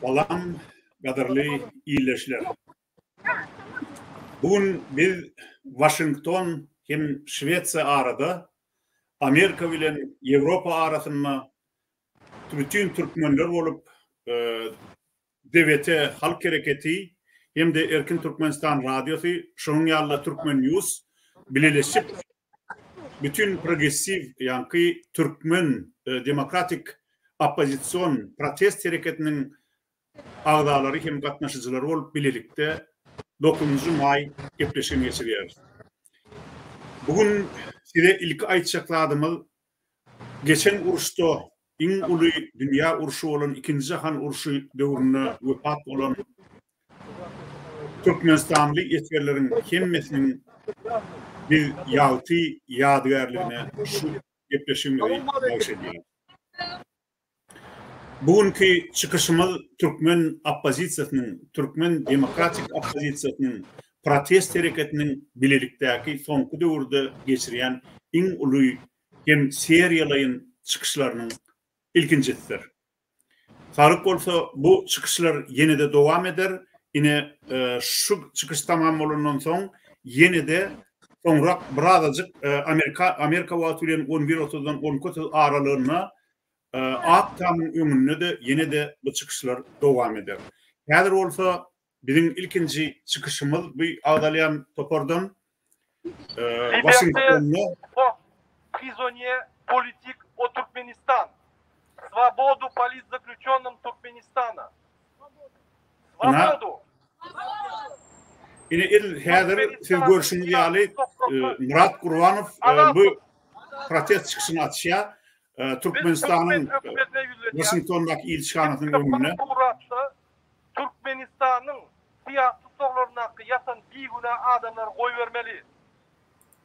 Salam, gadyrly ildeşler! Bu gün biz Waşington hem Şwesiýa arada, Amerika bilen Ýewropa arasynda bütin türkmenler bolup DWT Halk Hereketi hem-de Erkin Türkmenistan Radiosy, şonuň ýaly-da Türkmennews bileleşip bütin progressiw ýaňky türkmen demokratik oppozision protest hereketiniň agzalary hem gatnaşyjylary bolup bilelikde dokuzynjy maý gepleşigini geçirýäris. Bu gün size ilki aýtjak zadymyz Geçen uruşda iň uly dünýä urşy bolan Ikinji jahan urşy döwründe wepat bolan türkmenistanly esgerleriň hemmesiniň biz ýagty ýadygärligine şu gepleşigimizi bagyş edýäris. Bu günki çykyşymyz türkmen oppozisiýasynyň, türkmen demokratik oppozisiýasynyň protest hereketiniň bilelikdäki soňky döwürde geçirýän iň uly hem seriýalaýyn çykyşlarynyň ilkinjisidir. Saglyk bolsa, bu çykyşlar ýene-de dowam eder, ine, şu çykyş tamam bolandan soň ýene-de Soňrak birazajyk Amerika Amerika wagty bilen on bir otuzdan on iki otuz aralygynda Ak tamyň öňünde-de ýene-de bu çykyşlar dowam eder. Häzir bolsa biziň ilkinji çykyşymyz bu agzalýan topardan Waşingtonda Prisonýe politik o Türkmenistan. Svobodu politzaklýuçonym Türkmenistana. Ina, ine il häzir siz görşüňiz ýaly Murat Gurbanow bu protest çykyşyny açýar. Türkmenistanyň Waşingtondaky ilçihanasynyň öňünde. Türkmenistanyň syýasy tussaglaryndaky ýatan bigünä adamlary goýbermeli.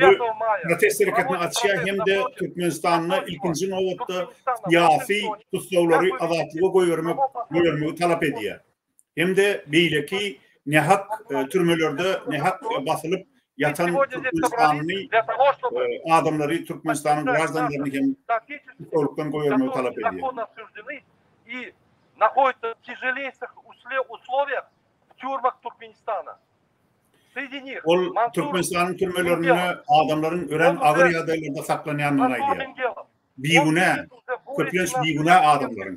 Bu protest hereketini açýar hem-de Türkmenistanda ilkinji nobatda syýasy tussaglary azatlyga goýbermek goýbermegi talap edýär. Hem-de beýleki nähak türmelerde nähak basylyp ýatan türkmenistanly adamlary, Türkmenistanyň graždanlaryny hem tussaglykdan goýbermegi talap edýär. Ol Türkmenistanyň türmelerinde adamlaryň örän agyr ýagdaýlarda saklanýandygyny aýdýar. Bigünä, köplenç bigünä adamlaryň.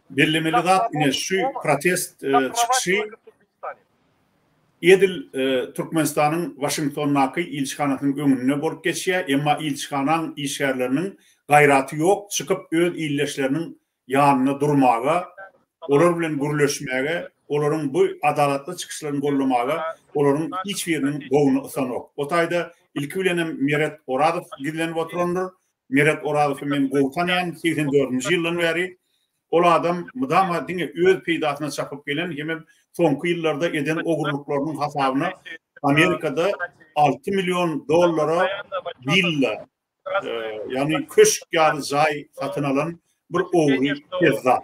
Bellemeli zat ine şu protest çykyşy edil Türkmenistanyň Waşingtondaky ilçihanasynyň öňünde bolup geçýär, emma ilçihanaň işgärleriniň gaýraty ýok, çykyp öz ildeşleriniň ýanynda durmaga, olar bilen gürleşmäge, olaryň bu adalatly çykyşlaryny goldamaga olaryň hiç biriniň bogny ysanok. O taýda ilki bilenem Meret Orazow gizlenip oturandyr, Meret Orazowy men gowy tanýan, segsen dördünji ýyldan bäri. Ol adam mydama diňe öz peýdasyna çapyp gelen hemem soňky ýyllarda eden ogurlyklarynyň hasabyna Amerikada alty million dollara willa, ýagny köşk ýaly jaý satyn alan bir ogry pezzap.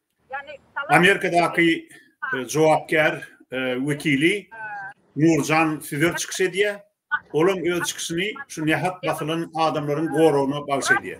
Amerikadaky e, jogapkär e, wekili Nurjan Süzer çykyş edýär. Olam öz çykyşyny şu nähak basylan adamlaryň goragyna bagş edýär.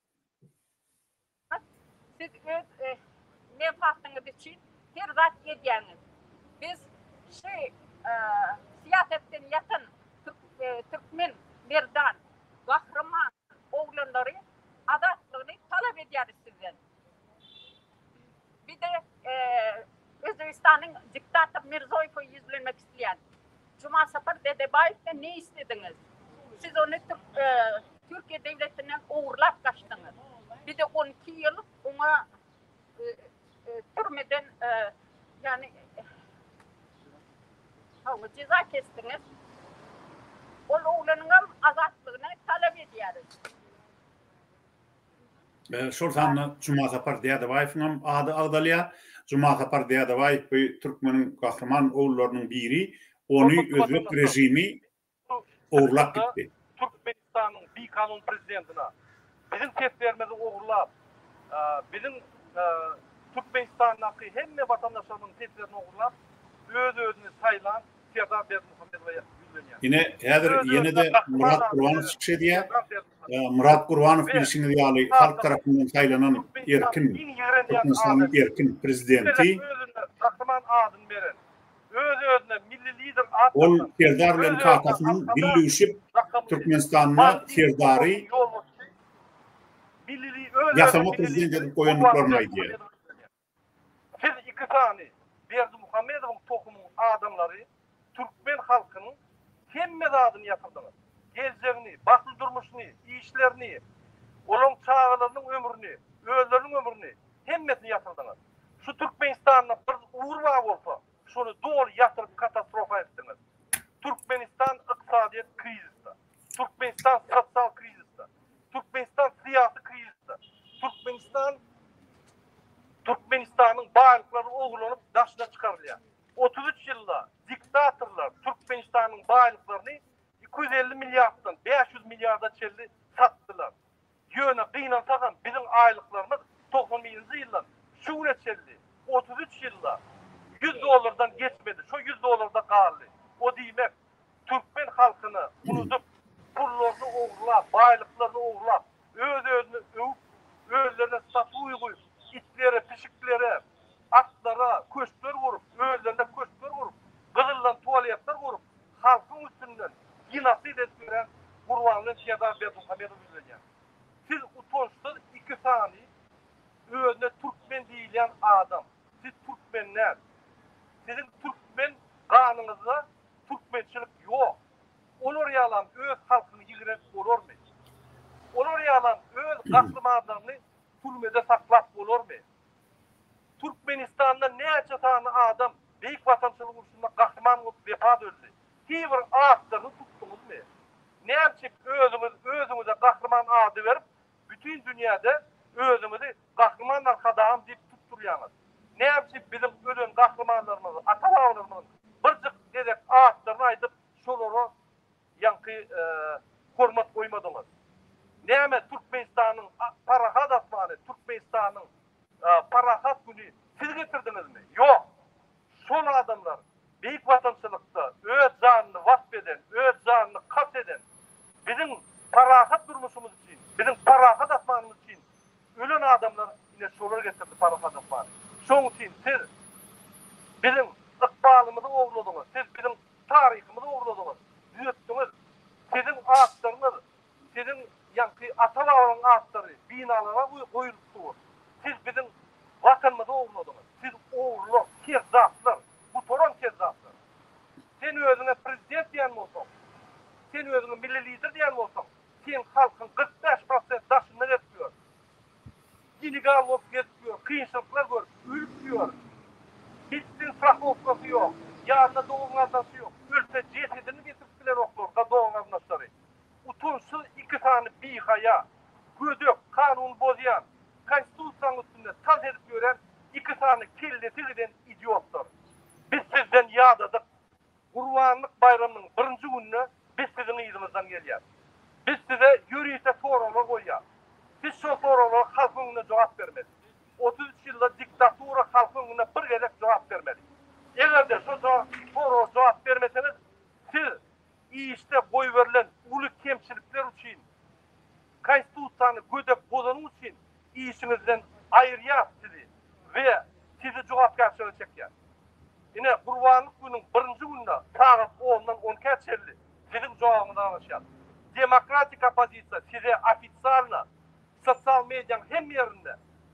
Siz öz menfaatyňyz üçin her zat edýäňiz. Biz şu syýasatdan ýasan türkmen merdan, gahryman oglanlary azatlygyny talap edýäris sizden. Bir de Özbegistanyň diktator Mirzoýewe ýüzlenmek isleýän. Jumasapar Dedebaýewden ne islediňiz? Siz ony Türkiýe döwletinden ogurlap gaçdyňyz. Bir de on iki ýyl oňa türmeden ýagny hawa jeza kesdiňiz. Ol oglanyňam azatlygyny talap edýäris. Şol sanda Jumasapar Dädebaýewiň hem ady agzalýar. Jumasapar Dädebaýew bu türkmeniň gahryman oglullarynyň biri. Ony özbek režimi ogurlap gitdi. Türkmenistanyň bikanun prezidentine biziň seslerimizi ogurlap, biziň Türkmenistandaky hemme watandaşlarymyzyň seslerini ogurlap, öz-özüni saýlan Serdar Berdimuhamedowa ýüzlenýär. Ine, häzir ýene-de Murat Gurbanow çykyş edýär. Myrat Gurbanow bilşiňiz ýaly halk tarapyndan saýlanan erkin Türkmenistanyň erkin prezidenti. Gahryman adyny beren, öz-özüne Milli Lider at Ol Serdar bilen kakasynyň billüşip Türkmenistanda Serdary ýasama prezident edip goýandyklaryny aýdýar. Siz iki sany Berdimuhamedowyň tohumyň adamlary türkmen halkynyň hemme zadyny ýatyrdyňyz. Geljegini, bagtly durmuşyny, işlerini, olaň çagalarynyň ömrüni, özleriniň ömrüni hemmesini ýatyrdyňyz. Şu Türkmenistanda bir ugur bar bolsa, şony doly ýatyryp katastrofa etdiňiz. Türkmenistan ykdysadyýet krizisde. Türkmenistan sosial krizisde. Türkmenistan syýasy krizisde. Türkmenistan Türkmenistanyň baýlyklary ogurlanyp daşyna çykarylýar. 33 ýylda diktatorlar Türkmenistanyň baýlyklaryny iki ýüz elli milliarddan bäş ýüz milliarda çenli satdylar. Ýöne gynansagam biziň aýlyklarymyz togsan birinji ýyldan şu güne çenli otuz üç ýylda ýüz dollardan geçmedi, şo ýüz dollarda galdy. O diýmek, türkmen halkyny unudyp, pullaryny ogurlap, baýlyklaryny ogurlap, öz-özüni öwüp, özlerine statuýa guýup, itlere, pişiklere, atlara köşkler gurup, özlerine köşkler gurup, gyzyldan tualetler gurup, halkyň üstünden genosid edip ýören Gurbanguly Şerdar Berdimuhamedowa ýüzlenýär. Siz utançsyz iki sany özüne türkmen diýilýän adam. Siz türkmen däl. Siziň türkmen ganyňyzda türkmençilik ýok. Olar ýalam öz halkyny ýigrenip bolarmy? Olar ýalam öz gahrymanlaryny türmede saklap bolarmy? Türkmenistanda näçe sany adam Beýik Watançylyk urşunda gahryman bolup wepat öldi? Higbir atlaryny tutduňyzmy? Nämçik özüňiz özüňize gahryman ady berip, bütin dünýäde özüňizi Gahryman Arkadagym diýip tutdurýaňyz? Nämçik biziň ölen gahrymanlarymyzy, ata-babalarymyzyň birjik gezek atlaryny aýdyp, şolara Ýaňky hormat goýmadyňyz. Näme Türkmenistanyň parahat asmany, Türkmenistanyň parahat güni siz getirdiňizmi? Ýok. Şol adamlar Beýik Watançylykda öz janyny wasp eden, öz janyny kast eden, biziň parahat durmuşymyz üçin, biziň parahat asmanymyz üçin ölen adamlar ine şolar getirdi parahat asmany. Şoň üçin siz biziň ykbalymyzy ogurladyňyz, siz biziň Taryhymyzy ogurladyňyz, düýetdiňiz. Siziň atlaryňyz, siziň ýaňky ata-babalaryň atlary binalara goýulyp dur. Siz biziň Watanymyzy ogurladyňyz. Siz ogurlar, kezzaplar, gutaran kezzaplar. Sen özüňe prezident diýen bolsaň, sen özüňe milli lider diýen bolsaň, seň halkyň kyrk bäş prosent daşynda gezip ýör. Dili gal bolup gezip ýör, kynçylyklar görüp, ölüp ýör. Hiçbir strahowkasy ýok. Ýanynda dogan-gardaşy ýok. Ölse, jesedini getirip bileroklar-da dogan-garyndaşlary. Utançsyz iki sany bihaýa, gödek, kanuny bozýan, Konstitusiýanyň üstünde tans edip ýören iki sany kellesi giden idiotlar. Biz sizden ýadadyk. Gurbanlyk baýramynyň birinji gününe biz siziň yzyňyzdan gelýäs. Biz size ýörite soraglar goýýas. Siz şol soraglara halk öňünde jogap bermeli. Otuz üç ýylda diktatura halk öňünde bir gezek jogap bermeli. Eger-de şo soraga jogap bermeseňiz, siz işde goýberilen uly kemçilikler üçin, Konstitusiýany gödek bozanyň üçin işiňizden aýyrýar sizi we sizi jogapkärçilige çekýär. Ine, gurbanlyk günüň birinji gününe sagat ondan on ikä çenli siziň jogabyňyz garaşýar. Demokratik oppozisiýa size ofisialna sosial mediýaň hemme ýerinde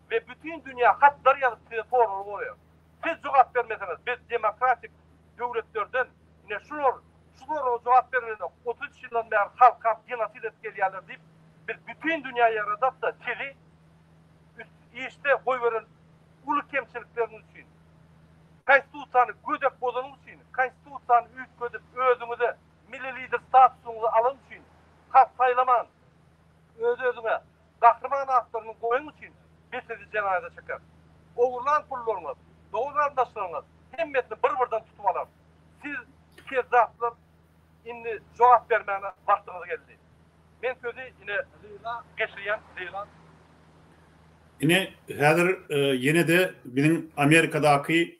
we bütin dünýä hatlar ýazyp size sorag goýar. Siz jogap bermeseňiz biz demokratik döwletlerden Ine, şular şu soraga jogap bergenok. Otuz üç ýyldan bäri halkam genosid edip gelýärler diýip, biz bütin dünýä ýaradak-da, sizi işde goýberen uly kemçilikleriňiz üçin, Konstitusiýany gödek bozanyňyz üçin, Konstitusiýany üýtgedip, özüňize Milli Lider statusyňyzy alanyň üçin, halk saýlaman, öz-özüňe Gahryman atlaryňyz goýun üçin biz sizi jenaýada çekeris. Ogurlan pullaryňyz, dogan-garyndaşlaryňyz hemmesini bir-birden tutup alarys. Siz, kezzaplar, indi jogap bermäne wagtyňyz geldi. Men sözi ine Leýla geçirýän, Leýla. Ine, häzir ýene-de biziň Amerikadaky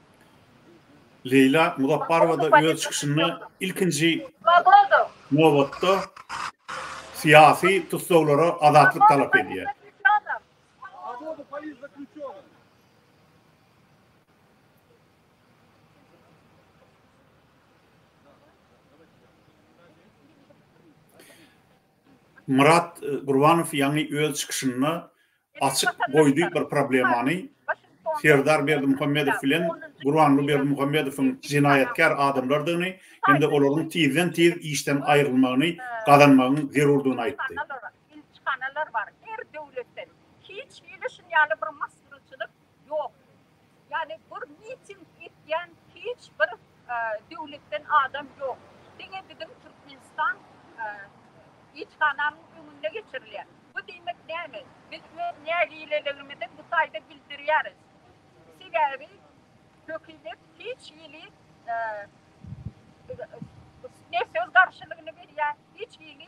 Leýla Muzapparowa-da öz çykyşynda ilkinji nobatda syýasy tussaglara azatlyk talap edýär. Myrat Gurbanow ýaňy öz çykyşynda açyk goýdy bir problemany, Serdar Berdimuhamedow bilen Gurbanguly Berdimuhamedowyň jenaýatkär adamlardygyny hem-de olaryň tizden-tiz işden aýrylmagyny gazanmagyň zerurdygyny aýtdy. Ýok. Ýagny bur miting etýän hiç bir döwletden adam ýok. Diňe biziň Türkmenistan ilçihanamyň öňünde geçirilýär. Bu diýmek näme? Biz öz nägileligimizi bu taýda bildirýäris. Sebäbi hökümet hiç hili ne söz garşylygyny berýär, hiç hili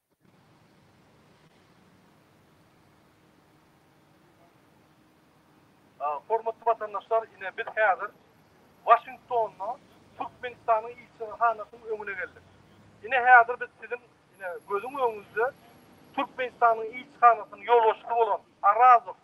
Hormatly watandaşlar, ine, biz häzir Waşingtonda Türkmenistanyň ilçihanasynyň öňüne geldik. Ine, häzir biz siziň, ine, gözüň öňünde Türkmenistanyň ilçihanasynyň ýolbaşçysy bolan Arazow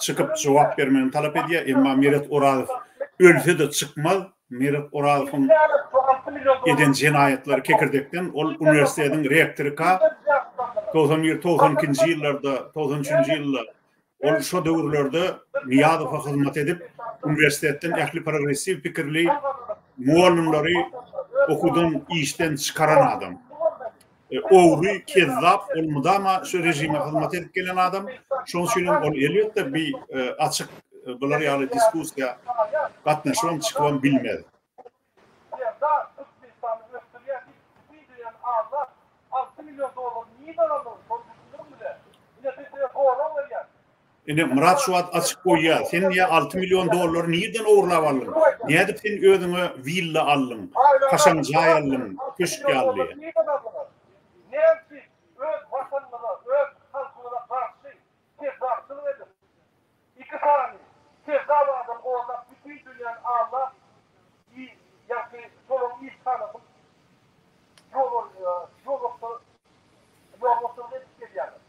Çykyp jogap bermegini talap edýär, emma Meret Orazow ölse-de çykmaz. Meret Orazowyň eden jenaýatlary kekirdekden, ol uniwersitetiň rektory ka, togsan bir, togsan ikinji ýyllarda, togsan üçünji ýylda, ol şo döwürlerde Nyýazowa hyzmat edip, uniwersitetden ähli progressiw pikirli mugallymlary okuwdan, işden çykaran adam. E, ogry, kezzap, ol mudama şu rejime hyzmat edip gelen adam. Şoň üçin hem ol elbetde bir e, açyk e, bular ýaly diskussiýa gatnaşyp hem çykyp hem bilmez. Ine, Myrat şu wagt açyk goýýar. Sen ýa alty million dollary nirden ogurlap aldyň? Nädip sen özüňe willa aldyň, kaşaň jaý aldyň, köşk ýaly? Ýolbaşçylyk edip gelýärler.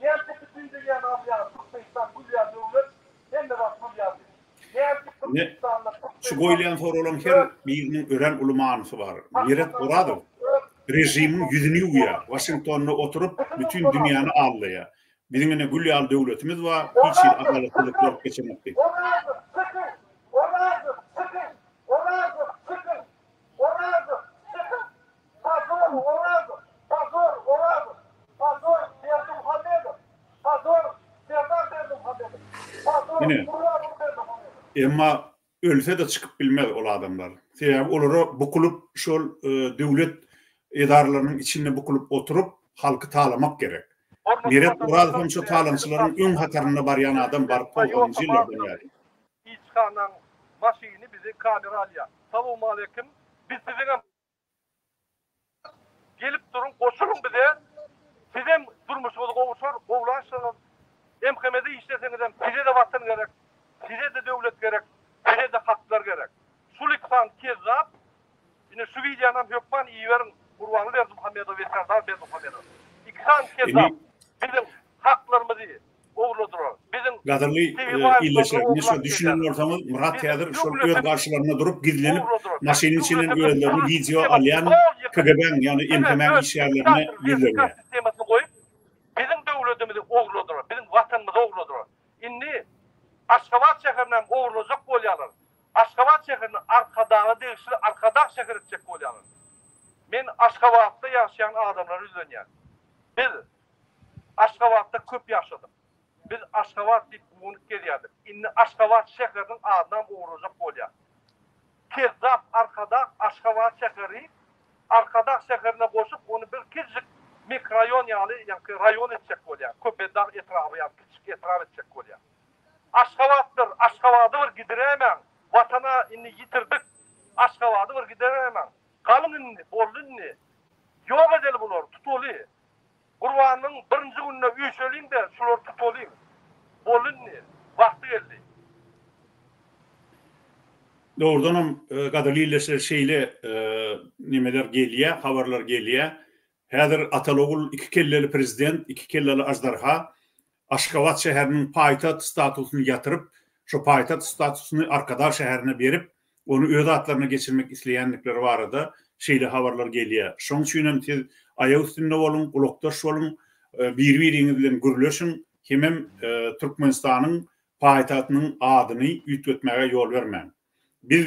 Nädip bütin dünýäni alýan Türkmenistan gülýän döwlet, hemme zat gülýän diýip. Nädip Türkmenistanda Türkmen Şu goýulýan soraglaryň her biriniň örän uly manysy bar. Meret Orazow režimiň ýüzüni ýuwýar, Waşingtonda oturyp bütin dünýäni aldaýar. Biziň ine gül ýaly döwletimiz bar, hiç hili adalatsyzlyk bolup geçemok diýip. Orazow, çykyň! Orazow, çykyň! Orazow, çykyň! Orazow, çykyň! Bazar Orazow, Bazar Orazow, Bazar Berdimuhamedow, Bazar Serdar Berdimuhamedow, Bazar Ine. Gurbanguly Berdimuhamedow. Emma ölse-de çykyp bilmez ol adamlar. Sebäbi olara bukulyp şol döwlet edaralarynyň içinde bukulyp oturyp halky talamak gerek. Meret Orazowam şo talaňçylaryň öň hatarynda barýan adam baryp togsanynjy ýyllardan bäri. Ilçihanaň maşyny bizi kamera alýar. Salowmaleýkim. Biz siziňem. Gelip duruň goşulyň bize sizem durmuşyňyz gowuşar gowlaşyňyz MHMde işleseňizem sizede watan gerek sizede döwlet gerek sizede haklar gerek şuliksan kezzap ine şu wideonam hökman iberiň Gurbanly Berdimuhamedow we Serdar Berdimuhamedow ikisan kezzap biziň haklarymyzy owladylar. Biziň Gadyrly illeşlerimiz şo düşünen bolsaňyz Myrat häzir şol öz garşylarynda durup gizlenip maşynyň içinden özlerini wideo alýan KGB-niň ýagny MHM-niň işgärlerine ýüzlenýär. Sistemasyny goýup biziň döwletimizi owladylar, biziň watanymyzy owladylar. Indi Aşgabat şäherini hem owrulajak bolýarlar. Aşgabat şäherini Arkadaga degişli Arkadag şäher etjek bolýarlar. Men Aşgabatda ýaşaýan adamlara ýüzlenýän. Biz Aşgabatda köp ýaşadyk. Biz Aşgabat diýip guwanyp gezýärdik. Indi Aşgabat şäheriniň adynam ugrajak bolýar. Kezzap Arkadag Aşgabat şäheri Arkadag şäherine goşup, ony bir kiçijik mikroýon ýaly, ýaňky raýon etjek bolýar. Köpetdag etraby ýaly kiçijik etrap etjek bolýar. Aşgabatdyr Aşgabady bir gidiräýmäň. Watana indi ýitirdik. Aşgabady bir gideräýmäň. Galyň indi, boldy indi. Ýok edeli bulary, tutaly. Gurbanyň birinji gününe üýşeliň-de, şulary tutalyň. Boldy indi. Wagty geldi. Dogrudanam, gadyrly ildeşler, şeýle nemeler gelýär, habarlar gelýär. Häzir Ataly-ogul iki kelleli prezident, iki kelleli aždarha. Aşgabat şäheriniň paýtagt statusyny ýatyryp, şu paýtagt statusyny Arkadag şäherine berip, ony öz atlaryna geçirmek isleýändikleri barada şeýle habarlar gelýär. Şoň üçin hem siz aýak üstünde boluň, gulakdaş boluň, bir-biriňiz bilen gürleşiň, hemem Türkmenistanyň paýtagtynyň adyny üýtgetmäge ýol bermäň. Biz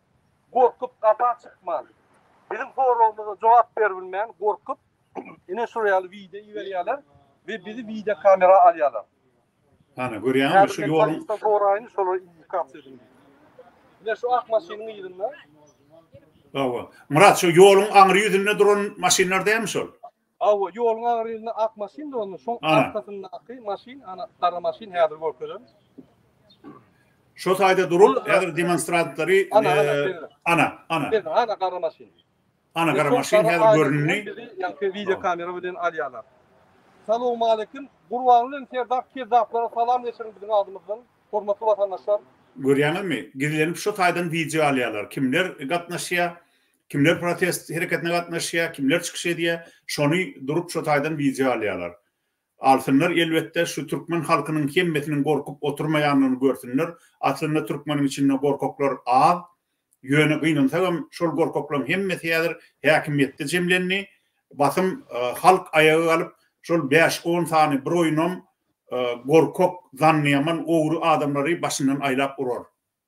Gorkup gapa çykman. Biziň soragymyza jogap berbilmän gorkup ine şurýaly wideo iberýärler we bizi wideo kamera alýarlar. Hany görýäňizmi şu ýol. Häzir men soraýyn şolar indikasiýa edin diýip. Ine şu ak maşynyň yzynda. Hawa. Myrat şu ýoluň aňry ýüzünde duran maşynlar dälmi şol? Hawa, ýoluň agyrynda ak maşyn duranda, şoň arkasyndaky maşyn, ana, gara maşyn, häzir görkezerin. Şo taýda durup, häzir demonstrantlary, ana, ana, ana. Ana, ana, gara maşyn. Ana, gara maşyn häzir göründi. Ýaňky wideo kamera bilen alýarlar. Salowmaleýkim. Gurbanguly bilen Serdar kezzaplara salam geçiriň biziň adymyzdan. Hormatly watandaşlar. Görýäňizmi? Gizlenip şo taýdan wideo alýarlar. Kimler gatnaşýar? Kimler protest hereketine gatnaşýar, kimler çykyş edýär, şony durup şo taýdan wideo alýarlar. Alsynlar elbetde şu türkmen halkynyň hemmesiniň gorkup oturmaýanlygyny görsünler, aslynda türkmeniň içinde gorkaklar az, ýöne gynansagam şol gorkaklaryň hemmesi häzir häkimiýetde jemlendi, basym halk aýaga galyp şol bäş on sany bir oýunam gorkak, zannyýaman ogry adamlary başyndan aýlap urar.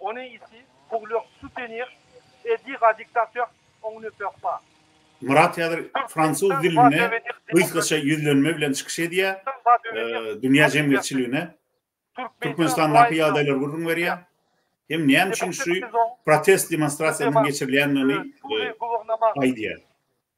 On ey iti, puglyok, sutenir, edi gadiktatör, oň ne pöh pa. Myrat häzir fransuz dilinde gysgaça ýüzlenme bilen çykyş edýär, dünýä jemgyýetçiligine Türkmenistandaky ýagdaýlary gürrüň berýär hem näme üçin şu protest demonstrasiýasynyň geçirilýändigini aýdýar.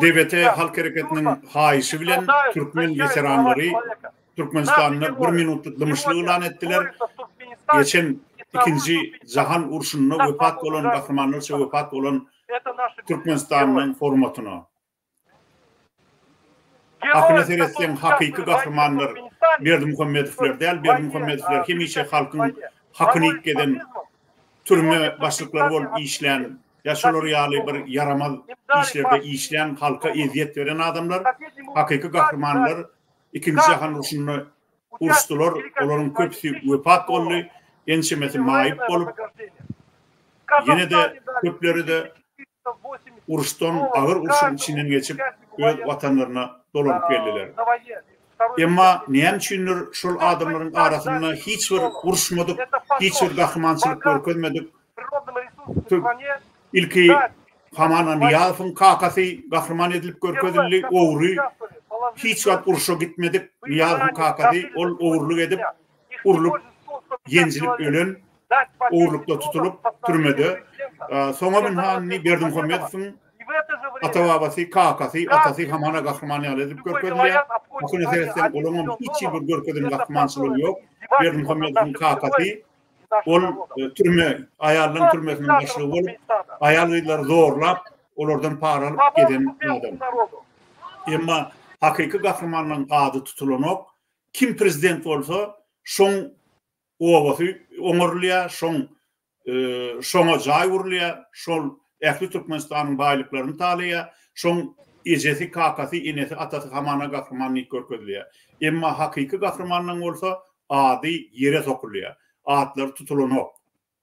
DBT halk hereketiniň haýyşy bilen türkmen weteranlary Türkmenistanda bir minutlyk dymyşlyk yglan etdiler. Geçen Ikinji jahan urşunda wepat bolan gahrymanlarça wepat bolan Türkmenistanyň hormatyna. Hakyna seretseň hakyky gahrymanlar Berdimuhamedowler däl, Berdimuhamedowler hemişe halkyň hakyny iýip gezen türme başlyklary bolup işlän ýa şolar ýaly bir ýaramaz işlerde işlän halka ezýet beren adamlar hakyky gahrymanlar ikinji jahan urşunda uruşdylar olaryň köpüsi wepat boldy ençemesi maýyp bolup ýene-de köpleri-de uruşdan, agyr urşuň içinden geçip, öz watanlaryna dolanyp geldiler. Emma näme üçindir, şol adamlaryň arasynda hiç bir uruşmadyk, hiç bir gahrymançylyk görkezmedik, tüg, ilki Haman Anyýazowyň kakasy gahryman edilip görkezildi, ogry, hiç wagt urşa gitmedik Nyýazowyň kakasy, ol ogurlyk edip, urlup, ýenjilip ölen, ogurlykda tutulyp, türmede, Sona Binhani Berdimuhamedowyň ata-babasy, kakasy, atasy hamana gahryman ýaly edip görkezilýär. Hakyna seretseň, olaryň hem hiç hili görkezen gahrymançylygy ýok. Berdimuhamedowyň kakasy, ol türme, aýallaryň türmesiniň başlygy bolup, aýal-gyzlary zorlap, olardan para alyp gezen adam. Emma hakyky gahrymanlaryň ady tutulanok. Kim prezident bolsa, şoň obasy oňarylýar, şoň şoňa jaý gurulýar, şol ähli Türkmenistanyň baýlyklaryny talaýar, şoň ejesi, kakasy, enesi, atasy hamana gahryman diýip görkezilýär. Emma hakyky gahrymanlaň bolsa ady ýere sokulýar. Atlary tutulanok.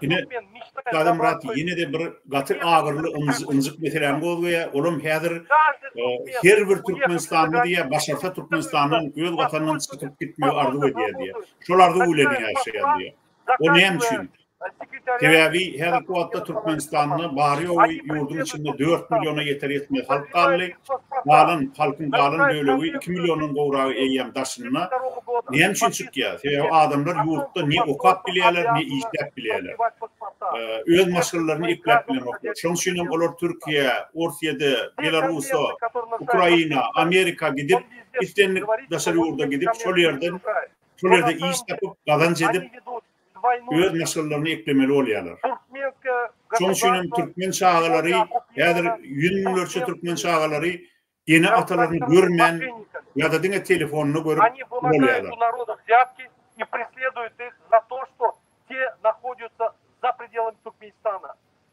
Ine, Gazymyrat ýene-de bir gaty agyryly ynjyk meseläni gozgaýar. Olam häzir her bir türkmenistanly diýýär, başarsa Türkmenistandan, öz Watanyndan çykyp gitmegi arzuw edýär diýýär. Şol arzuw bilen ýaşaýar diýýär. O näme üçin? Sebäbi häzirki wagtda Türkmenistanda bary-ýogy ýurduň içinde dört milliona ýeter-ýetmez halk galdy. galan, halkyň galan bölegi, iki milliondan gowragy eýýäm daşynda. Näme üçin çykýar? Sebäbi adamlar ýurtda ne okap bilýärler, ne işläp bilýärler. Öz maşgalalaryny ekläp bilenoklar. Şonuň üçin hem olar Türkiýä, Orsýede, Belarusa, Ukraina, Amerika gidip, islendik daşary ýurda gidip, şol ýerden, şol ýerde iş tapyp, gazanç edip, öz maşgalalaryny eklemeli bolýarlar. Şonuň üçin hem türkmen çagalary häzir ýüz müňlerçe türkmen çagalary ene-atalaryny görmän ýa-da diňe telefonda görüp ulalýarlar.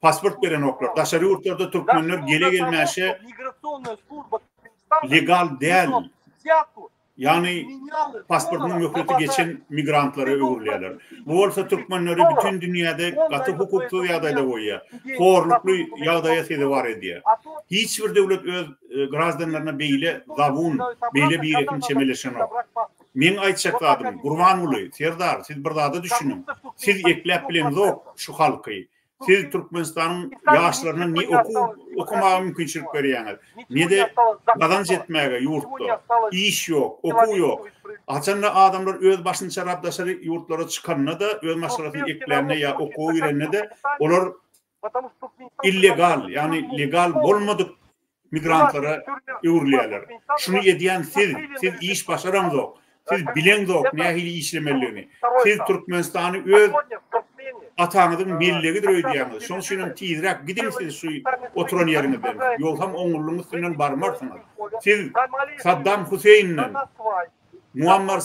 pasport berenoklar. Daşary ýurtlarda türkmenler gele-gelmäşe legal däl, ýagny pasportynyň möhleti geçen migrantlara öwrülýärler. Bu bolsa türkmenleri bütin dünýäde gaty hukuksyz ýagdaýda goýýar, horlukly ýagdaýa sezewar edýär. Hiç bir döwlet öz e, graždanlaryna beýle zabun, beýle birehim çemeleşenok. Meň aýtjak zadym, Gurbanguly, Serdar, siz bir zada düşüniň. Siz ekläp bileňzok şu halky. Siz Türkmenistanyň ýaşlaryna ne okuw okamaga mümkinçilik berýäňiz, ne-de gazanç etmäge ýurtda. Iş ýok, okuw ýok. Haçanda adamlar öz başynyça daşary ýurtlara çykanda-da, öz maşgalasyny eklände ýa okuwa girende-de, olar illegal, ýagny legal bolmadyk migrantlara öwrülýärler. Şuny edýän siz, siz iş başaraňzok, siz bileňzok nähili işlemelidigini. Siz Türkmenistany öz ataňyzyň mellegidir öýdýäňiz. Şonuň üçin hem tizräk gidiň siz şu oturan ýeriňizden, ýogsam oňurlygyň üstünden barmarsyňyz. Siz Saddam Huseýinden Muammar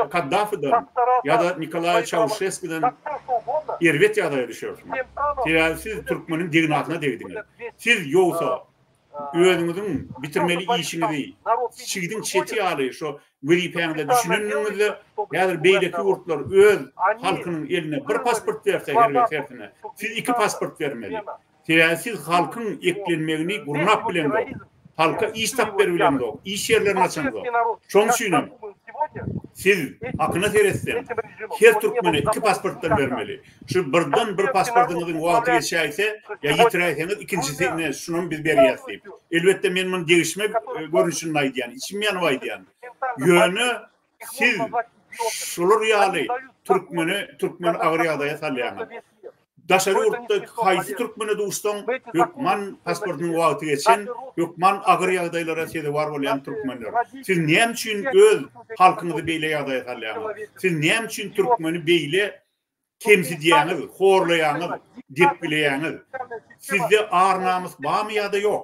Kaddafiden ýa-da Nikolaý Çauşeskiden erbet ýagdaýa düşersiňiz. Sebäbi siz türkmeniň degnasyna degdiňiz. Siz ýogsa özüňiziň bitirmeli işiňizi çigidiň çeti ýaly şo wezipäňize düşünendigiňizde, häzir beýleki ýurtlar öz halkynyň eline bir pasport berse her bir tersine, siz iki pasport bermeli. Teäsiz halkyň eklenmegini gurnap bilemzok, halka iş tap berbilemzok, iş ýerlerini açamzok. Şoň üçinem siz hakyna seretseň, her türkmene iki pasportdan bermeli. Şu birden bir pasportyňyzyň wagty geçäýse ýa ýitiräýseňiz ikinjisi ine şunam biz berýäs diýip. Elbetde men muny degişme görnüşinde aýdýan, içim ýanyp aýdýan. Ýöne siz şular ýaly türkmeni türkmen agyr ýagdaýa salýaňyz. Daşary ýurtda haýsy türkmene duşsaň, hökman pasportynyň wagty geçen, hökman agyr ýagdaýlara sezewar bolýan türkmenler. Siz näme üçin öz halkyňyzy beýle ýagdaýa salýaňyz? Siz näme üçin türkmeni beýle kemsidýäňiz, horlaýaňyz, depgileýäňiz? Sizde ar-namys barmy ýa-da ýok?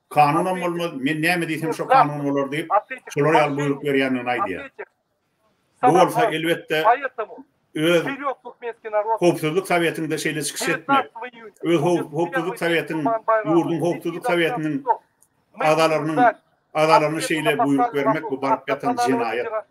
Kanunam bolmaz, men näme diýsem şo kanun bolar diýip, şolar ýaly buýruk berýändigini aýdýar. Bu bolsa elbetde öz Howpsuzlyk Sowetinde şeýle çykyş etmek, öz Howpsuzlyk Sowetiniň, ýurduň Howpsuzlyk Sowetiniň agzalarynyň agzalaryna şeýle buýruk bermek bu baryp ýatan jenaýat.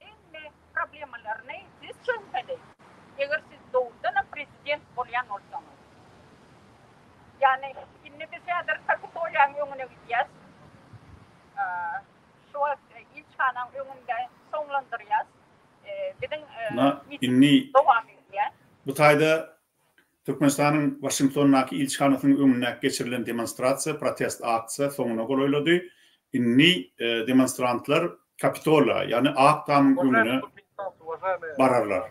Hemme problemalaryny siz çözmeli. Eger siz dogrudanam prezident bolýan bolsaňyz. Ýagny indi biz häzir Kapitoliýanyň öňüne gidýäs. Şu wagt ilçihanaň öňünde soňlandyrýas. Biziň miting dowam edýär. Bu taýda Türkmenistanyň Waşingtondaky ilçihanasynyň öňünde geçirilen demonstrasiýa, protest aksiýa soňuna golaýlady. Indi demonstrantlar Kapitola, ýagny Ak tamyň öňüne bararlar.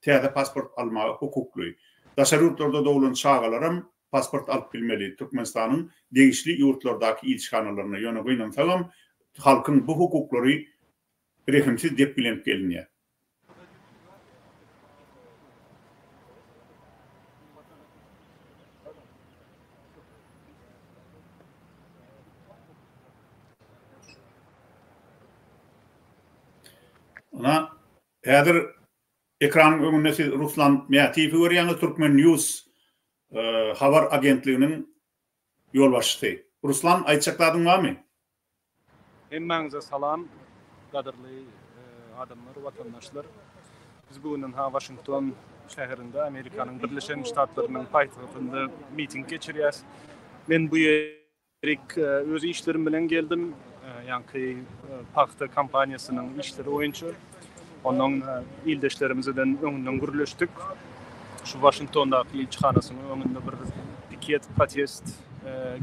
täze pasport almaga hukukly. Daşary ýurtlarda doglan çagalaram pasport alyp bilmeli Türkmenistanyň degişli ýurtlardaky ilçihanalarynda, ýöne gynansagam halkyň bu hukuklary rehimsiz depgilenip gelinýär. Ynha, Häzir ekranyň öňünde siz Ruslan Mätiýewi görýäňiz, Turkmen. News habar agentliginiň ýolbaşçysy. Ruslan, aýtjak zadyň barmy? Hemmäňize salam, gadyrly adamlar, watandaşlar! Biz bu gününha Waşington şäherinde, Amerikanyň Birleşen Ştatlarynyň paýtagtynda miting geçirýäs. Men bu. Erik, öz işlerim bilen geldim. Ýaňky pagta kompaniýasynyň işleri boýunça onuň ildeşlerimizeden öňünden gürleşdik. Şu Waşingtondaky ilçihanasynyň öňünde bir piket, protest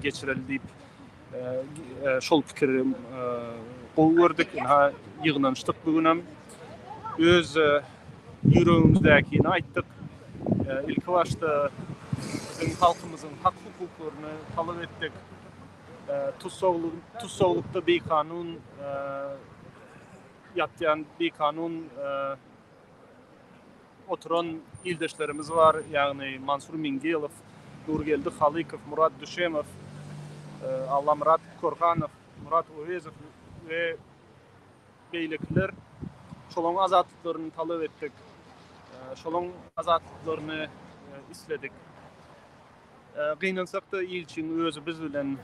geçireli diýip, şol pikiri gowy gördük. Ýygnanyşdyk bu günem. Öz Ýüregimizdäkini aýtdyk. Ilkibaşda biziň halkymyzyň hak-hukuklaryny talap etdik. Tussaglykda bikanun ýatýan, bikanun oturan ildeşlerimiz bar, ýagny Mansur Mingelow, Nurgeldi Halykow, Murat Düşemow, Allamyrat Korhanow, Murat Owezow we. Beýlekiler şolaň azatlyklaryny talap etdik. Şolaň azatlyklaryny isledik. Gynansak-da ilçiň özi biz bilen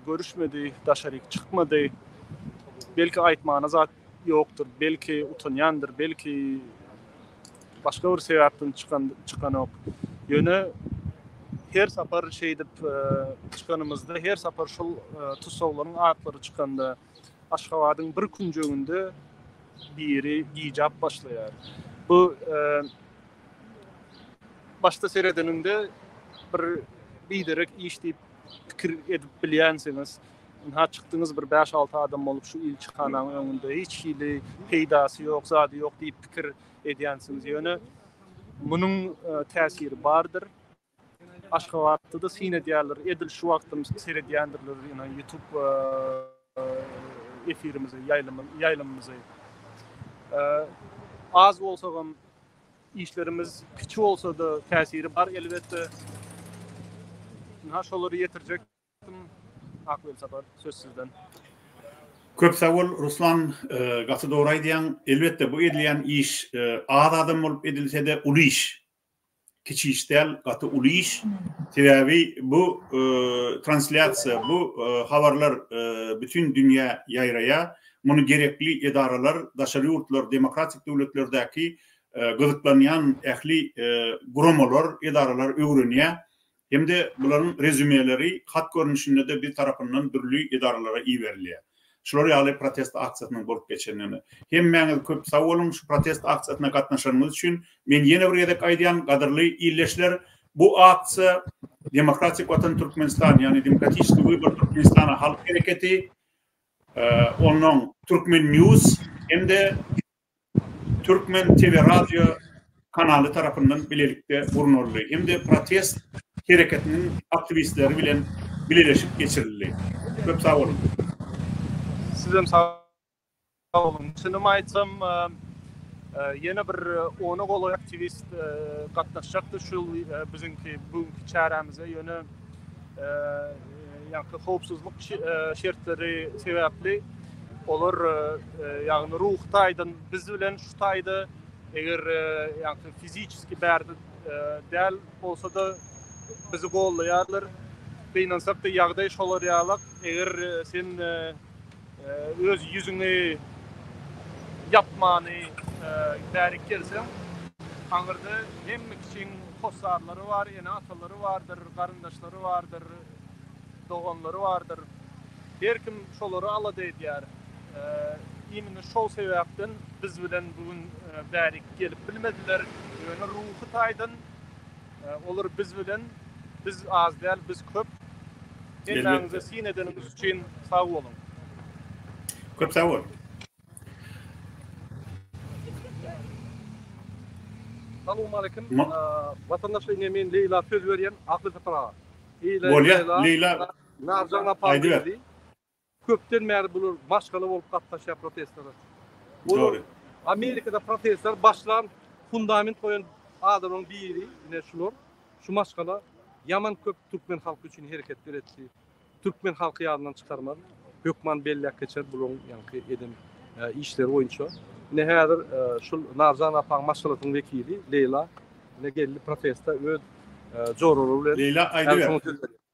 görüşmedi, daşaryk çykmady. Belki aýtmana zat ýokdur, belki utanýandyr, belki başga bir sebäpden çykan çykanok. Ýöne her sapar şeýdip e, çykanymyzda, her sapar şol e, tussaglaryň atlary çykanda Aşgabadyň bir künjeginde biri gijap başlaýar. Bu başda seredeniňde bir biderek iş diýip pikir edip bilýänsiňiz. Ynha çykdyňyz bir 5-6 adam bolup şu ilçihananyň öňünde hiç hili peýdasy ýok, zady ýok diýip pikir edýänsiňiz. Ýöne munuň täsiri bardyr. Aşgabatda-da syn edýärler. Edil şu wagtam seredýändirler ýene YouTube efirimizi, ýaýlymymyzy. Az bolsagam işlerimiz kiçi bolsa-da täsiri bar elbetde. Ynha şolary ýetirjek Ak Welsapar söz sizden. Köp sag bol Ruslan, gaty dogry aýdýaň. Elbetde bu edilýän iş az adam bolup edilse-de uly iş. kiçi iş däl, gaty uly iş. Sebäbi bu translýasiýa, bu habarlar bütin dünýä ýaýraýar. Muny gerekli edaralar, daşary ýurtlar, demokratik döwletlerdäki gyzyklanýan ähli guramalar, edaralar öwrenýär. Hem-de bularyň rezýumeleri hat görnüşinde-de biz tarapyndan dürli edaralara iberilýär. Şular ýaly protest aksiýasynyň bolup geçenine hemmäňiz köp sag boluň, şu protest aksiýasyna gatnaşanyňyz üçin men ýene bir gezek aýdýan, gadyrly ildeşler, bu aksiýa Demokratik Watan Türkmenistan, ýagny Demokratiçny Wybor Türkmenistana halk hereketi, onnoň Turkmen. News hem-de Türkmen teleradio kanaly tarapyndan bilelikde gurnaldy hem-de protest hereketiniň aktiwistleri bilen bileleşik geçirildi. Köp sag boluň! Sizem sag boluň! Çynymy aýtsam, ýene bir ona golaý aktiwist gatnaşjakdy şul biziňki bu günki çärämize, ýöne, Ýaňky howpsuzlyk şertleri sebäpli olar ýagny ruhy taýdan biz bilen şu taýda eger ýaňky fiziçeski bärde däl bolsada bizi gollaýarlar. Gynansak-da ýagdaý şolar ýalak. Eger sen Öz ýüzüňi ýapmany bärik gelseň, aňyrda hemme kiçiň hossarlary bar, ene-atalary bardyr, garyndaşlary bardyr, doganlary bardyr. Her kim şolary alada edýär. Imini şol sebäpden biz bilen bu gün bärik gelip bilmediler. Ýöne ruhy taýdan Olar biz bilen, biz az däl, biz köp. Gelmäňize syn edeniňiz üçin sag boluň. Köp sag bol. Salam aleýkum. Watandaşlar ine men Leýla söz berýän Akylsapar aga. Bolýar Leýla. Narjan apa. Aýdyber. Köpden bäri bular maşgala bolup gatnaşýar protestlere. Olar Amerikada protestleri başlan, fundament goýan adamlaryň biri ine şular. Şu maşgala ýaman köp türkmen halky üçin hereketler etdi. Türkmen halky ýadyndan çykarmaz. Hökman belläp geçer bularyň ýaňky eden işleri boýunça. Ine häzir şul Narjan apaň maşgalasynyň wekili Leýla ine geldi proteste öz joralary bilen. Leýla aýdyber.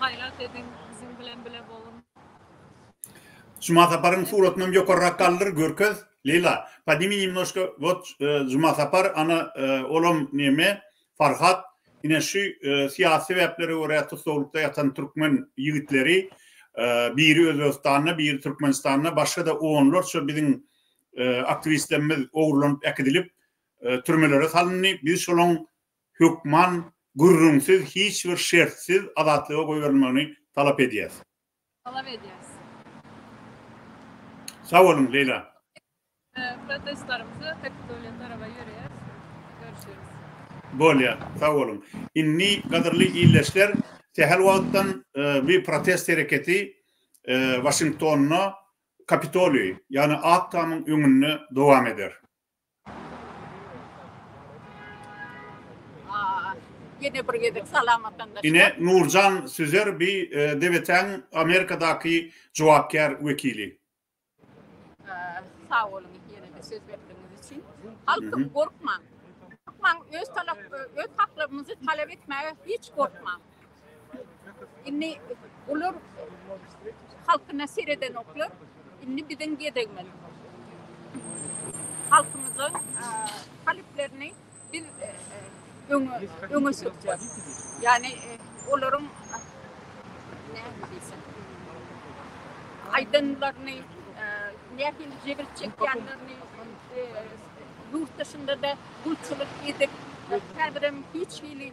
Gaýrat ediň, biziň bilen bile boluň. Juma Saparyň suratynam ýokarrak galdyr görkez Leýla podnimi nemnoşka wot Juma Sapar ana olam neme Farhat ine şu syýasy sebäplere görä tussaglykda ýatan türkmen ýigitleri biri Özbegistanda biri Türkmenistanda başgada onlarça biziň aktiwistlerimiz ogurlanyp äkidilip türmelere salyndy biz şolaň hökman gürrüňsiz hiç bir şertsiz azatlyga goýberilmegini talap edýäs. Talap edýäs. Sag boluň, Leýla. Protestlarymyzy Kapitoliýa taraba ýöreýäs. Görüşeris. Bolýar. Sag boluň. Indi, gadyrly ildeşler, sähel wagtdan bu protest hereketi Waşingtonda Kapitoliý, ýagny Ak tamyň öňünde dowam eder. Ýene bir gezek salamatlandyk. Ine Nurjan Süzer bi DBT-iň Amerikadaky jogapkär wekili. Sag boluň ýene-de söz berdigiňiz üçin. Halkym gorkmaň. Gorkmaň öz talap, öz haklarymyzy talap etmäge hiç gorkmaň. Indi olar halkyna seredenoklar. Indi biziň gezegimiz. Halkymyzyň talyplerini biz öňe öňe sürýäs. Ýagny olaryň näme diýsem aýdanlaryny nähili jebir çekýänlerini ýurt dışynda-da gulçulyk edip, häzirem hiç hili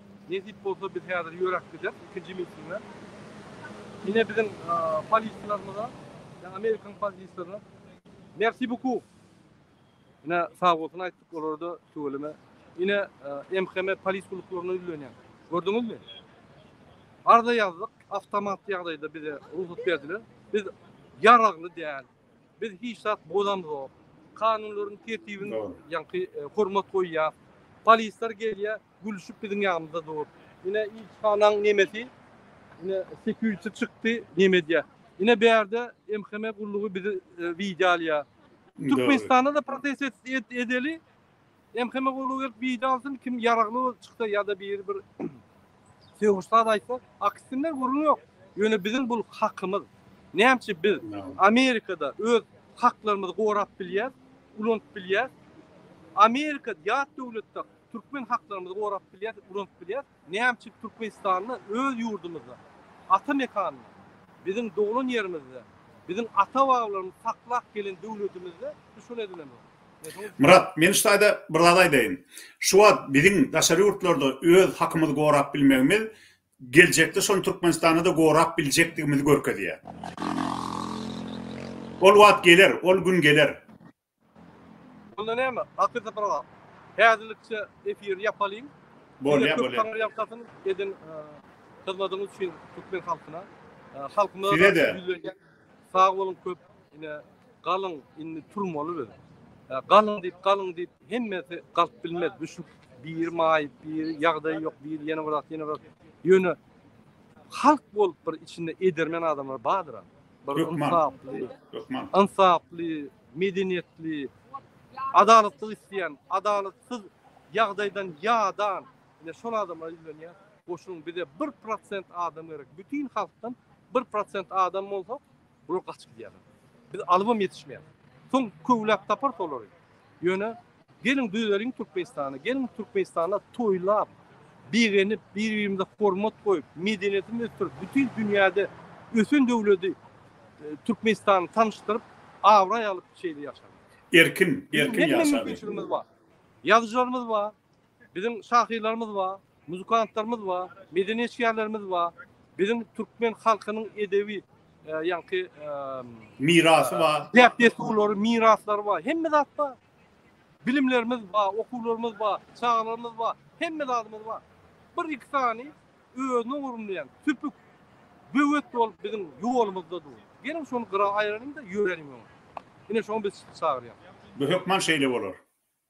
Nesip bolsa biz häzir ýöräp gideris ikinji mitinge. Ine biziň polislerimize ýa amerikan polislerine merci beaucoup. Ine sag bolsun aýtdyk olarda tüweleme. Ine MHM polis gulluklaryna ýüzlenýän. Gördüňizmi? Arza ýazdyk, awtomat ýagdaýda bize rugsat berdiler. Biz ýaragly däl. Biz hiç zat bozamzok. Kanunlaryň tertibini ýaňky hormat goýýas. Polisler gelýär. Gülşüp biziň ýanymyzda dur. Ine ilçihanaň nemesi ine sekiýuçi çykdy nemedýä. Ine bärde MHM gullugy bizi widýo alýa. Türkmenistanda-da protest et edeli MHM gullugy gelip widýo alsyn kim ýaragly çyksa ýa-da biri bir sögüş zat aýtsa aksinler gürrüň ýok. Ýöne biziň bul hakymyz. Nämçe biz Amerikada öz haklarymyzy gorap bilýäs, ulanyp bilýäs. Amerika ýat döwletde Türkmen haklarymyzy gorap bilýäris, ulanyp bilýäris. Näme üçin Türkmenistanda öz ýurdumyzda, ata mekanymyz, biziň doglan ýerimizde, biziň ata-babalarymyz saklap gelen döwletimizde biz şony edinenok? Myrat, men şu taýda bir zat aýdaýyn. Şu wagt biziň daşary ýurtlarda öz hakymyzy gorap bilmegimiz geljekde şony Türkmenistanda-da gorap biljekdigimizi görkezýär. Ol wagt geler, ol gün geler. Onda näme, akyr sapyrgap, häzirlikçe efiri ýapalyň. Bolýa, bolýa. Taňry ýalkasyn eden hyzmadyňyz üçin türkmen halkyna. Halkymyza da ýüzlenýän. Sag boluň köp. Ine, galyň, indi turmaly biz. Galyň diýip, galyň diýip, hemmesi galyp bilmez. Düşüp, biri maýyp, biri ýagdaýy ýok, biri ýene bir zat, ýene bir zat. Ýöne halk bolup bir içinde edermen adamlar bardyr-a. bir ynsaply, ynsaply, medeniýetli, adalatlyk isleýän, adalatsyz ýagdaýdan ýadan, ine şol adamlar ýüzlenýär. Goşuň bize 1% adam gerek. Bütin halkdan 1% adam bolsa, bular gaçyp gidýärler. Biz alybam ýetişmeýär. Soň köwläp taparys olary. Ýöne geliň düzeliň Türkmenistany, geliň Türkmenistanda toýlap, begenip, bir-birimize hormat goýup, medeniýetimizi ösdürip, bütin dünýäde ösen döwleti e, Türkmenistany tanyşdyryp, abraý alyp şeýle ýaşalyň. Erkin, erkin ýaşalyň. Ýazyjylarymyz bar. Biziň şahyrlarymyz bar, muzykantlarymyz bar, medeni işgärlerimiz bar, biziň türkmen halkynyň edebi ýaňky mirasy bar, däp-dessurlary, miraslary bar, hemme zat bar. Bilimlerimiz bar, okuwlarymyz bar, çagalarymyz bar, hemme zadymyz bar. Bir-iki sany özüni ogurlaýan tüpük böwet bolup biziň ýolumyzda dur. Geliň şony gyra aýyralyň-da ýöreliň öňe. Ine şoňa biz çagyrýarys. Bu hökman şeýle bolar.